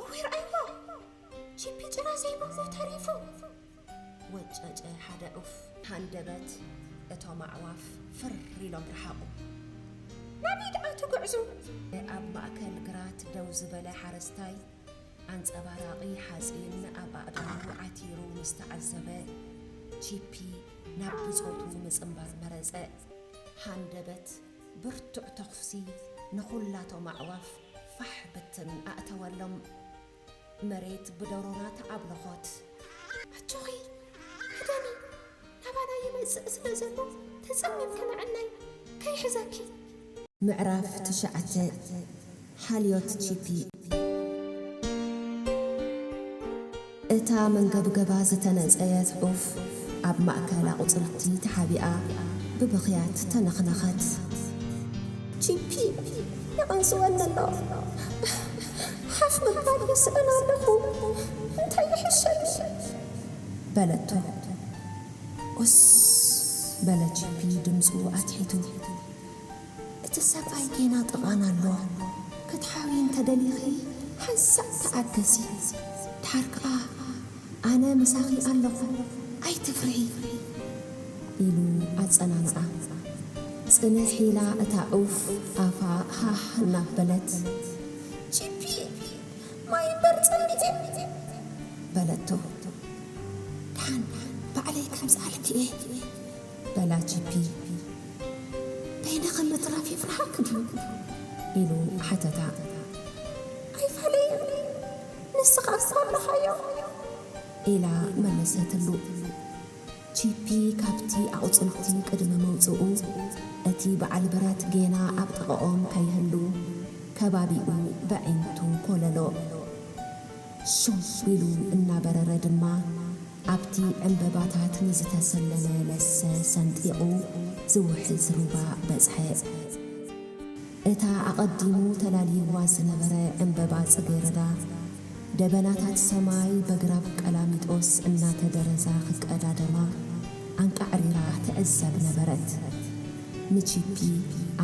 እወይ ረኣይዎ ቺፒ ጭራ ዘይብሉ ተሪፉ ወጨጨ ሓደ ዑፍ። ሃንደበት እቶም ኣዕዋፍ ፍር ኢሎም ረሓቑ። ናበይ ደኣ ትጉዕዙ? ኣብ ማእከል ግራት ደው ዝበለ ሓረስታይ ኣንጸባራቒ ሓጺን ኣብ ኣእዳዉ ዓቲሩ ምስ ተዓዘበ፣ ቺፒ ናብ ብጾቱ ምጽንባር መረጸ። ሃንደበት ብርቱዕ ተኹሲ ንኹላቶም ኣዕዋፍ ፋሕ ብትን ኣእተወሎም። መሬት ብደሮና ተዓብለኾት። ኣጆኺ ክደኒ፣ ናባና ይመጽእ ስለ ዘሎ ተጸሚምኪ ንዕናይ ከይሕዘኪ። ምዕራፍ ትሽዓተ፣ ሓልዮት ቺፒ። እታ መንገብገባ ዝተነጸየት ዑፍ ኣብ ማእከል ኣቝጽልቲ ተሓቢኣ ብብኽያት ተነኽነኸት። ቺፒ ይቐንጽወኒ ኣሎ፣ ሓፍ ምባል ይስእን ኣለኹ፣ እንታይ ይሕሸኒ? በለቶ። ኡስ! በለ ቺፒ ድምጹ ኣትሒቱ። እቲ ሰብኣይ ጌና ጥቓና ኣሎ ክትሓብዪ እንተደሊኺ ሓንሳእ ተኣገሲ ድሓር ከኣ ኣነ ምሳኺ ኣለኹ ኣይትፍርሂ ኢሉ ኣጸናንዓ። ጽንሕ ኢላ እታ ዑፍ ኣፋ ሃህ እናበለት ቺፒ ማይ እምበር ጸሚኤ በለቶ። ድሓን ባዕለይ ከምዝኣልኪ እየ። በላ ጂፒ። በይንኺ ምትራፍ የፍርሓኪ ድዩ? ኢሉ ሓተታ። ኣይፋለየን፣ ንስኻ እኮ ኣለኻዮ! ኢላ መለሰትሉ። ጂፒ ካብቲ ኣቑጽልቲ ቅድሚ ምውጽኡ፣ እቲ በዓል ብረት ጌና ኣብ ጥቓኦም ከይህሉ፣ ከባቢኡ በዒንቱ ኮለሎ። ሱብ ኢሉ እናበረረ ድማ ኣብቲ ዕምበባታት ንዝተሰለመ ለሰ ሰንጢቑ ዝውሕዝ ሩባ በጽሐ። እታ ኣቐዲሙ ተላልይዋ ዝነበረ ዕምበባ ጽጌረዳ፣ ደበናታት ሰማይ በግራብ ቀላሚጦስ እናተደረዛ ክቀዳደማ ኣንቃዕሪራ ትዕዘብ ነበረት። ንቺፒ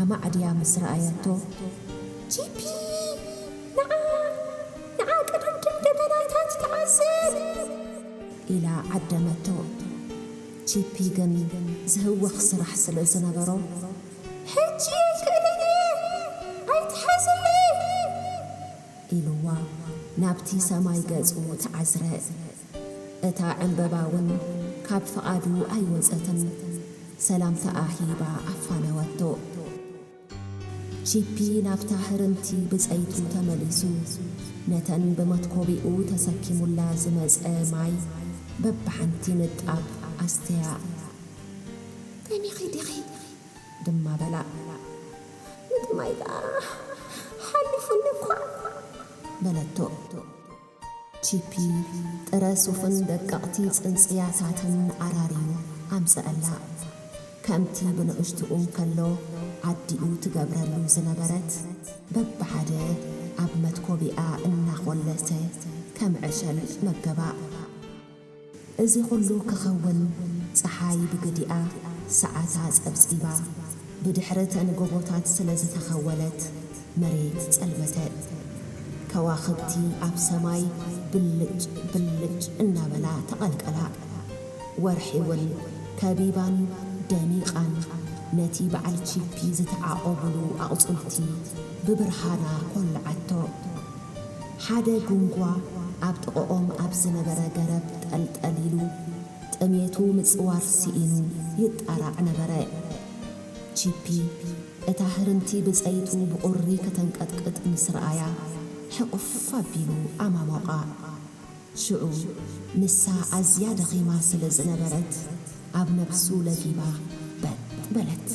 ኣማዕድያ ምስ ረኣየቶ፣ ቺፒ! ንዓ ንዓ ቀዳምኪ ደበናታት ትዓዝብ! ኢላ ዓደመቶ። ቺፒ ግን ዝህወኽ ስራሕ ስለ ዝነበሮ፣ ሕጂ ኣይክእልን እየ! ኣይትሓዝለይ! ኢሉዋ ናብቲ ሰማይ ገጹ ተዓዝረ። እታ ዕምበባ እውን ካብ ፍቓዱ ኣይወጸትን፣ ሰላምታኣ ሂባ ኣፋነወቶ። ቺፒ ናብታ ህርምቲ ብጸይቱ ተመሊሱ ነተን ብመትኮቢኡ ተሰኪሙላ ዝመጸ ማይ በብሓንቲ ንጣብ ኣስተያ። ጠሚኺ ዲኺ? ድማ በላ። ምጥማይ ደኣ ሓሊፉኒ እኳ! በለቶ። ቺፒ፣ ጥረ ሱፍን ደቀቕቲ ጽንጽያታትን ኣራርዩ ኣምጸኣላ። ከምቲ ብንእሽትኡ እንከሎ ኣዲኡ ትገብረሉ ዝነበረት፣ በብሓደ ኣብ መትኮቢኣ እናኾለሰ ከም ዕሸል መገባ። እዚ ኹሉ ክኸውን ጸሓይ ብግዲኣ ሰዓታ ጸብጺባ ብድሕሪ ተን ጎቦታት ስለ ዝተኸወለት መሬት ጸልመተት። ከዋኽብቲ ኣብ ሰማይ ብልጭ ብልጭ እናበላ ተቐልቀላ። ወርሒውን ከቢባን ደሚቓን ነቲ በዓል ቺፒ ዝተዓቖቡሉ ኣቑጽልቲ ብብርሃና ኮለዓቶ። ሓደ ጉንጓ ኣብ ጥቐኦም ኣብ ዝነበረ ገረብ ጠልጠል ኢሉ፣ ጥሜቱ ምጽዋር ስኢኑ ይጣራዕ ነበረ። ቺፒ፣ እታ ህርምቲ ብጸይቱ ብቑሪ ከተንቀጥቅጥ ምስ ረኣያ፣ ሕቝፍ ኣቢሉ ኣማሞቓ። ሽዑ፣ ንሳ ኣዝያ ደኺማ ስለ ዝነበረት፣ ኣብ ነብሱ ለጊባ በጥ በለት።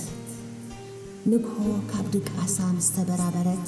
ንግሆ ካብ ድቃሳ ምስ ተበራበረት፣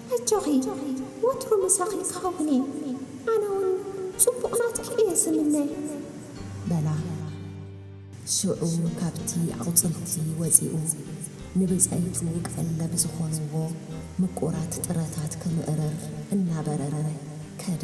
ኣጆኺ ወትሩ ምሳኺ ክኸውን እየ ኣነ ውን ጽቡቕ ናትኪ እየ ዝምነ። በላ። ሽዑ ካብቲ ኣቑጽልቲ ወጺኡ ንብጸይቱ ቀለብ ዝኾንዎ ምቁራት ጥረታት ክምእርር እናበረረ ከደ።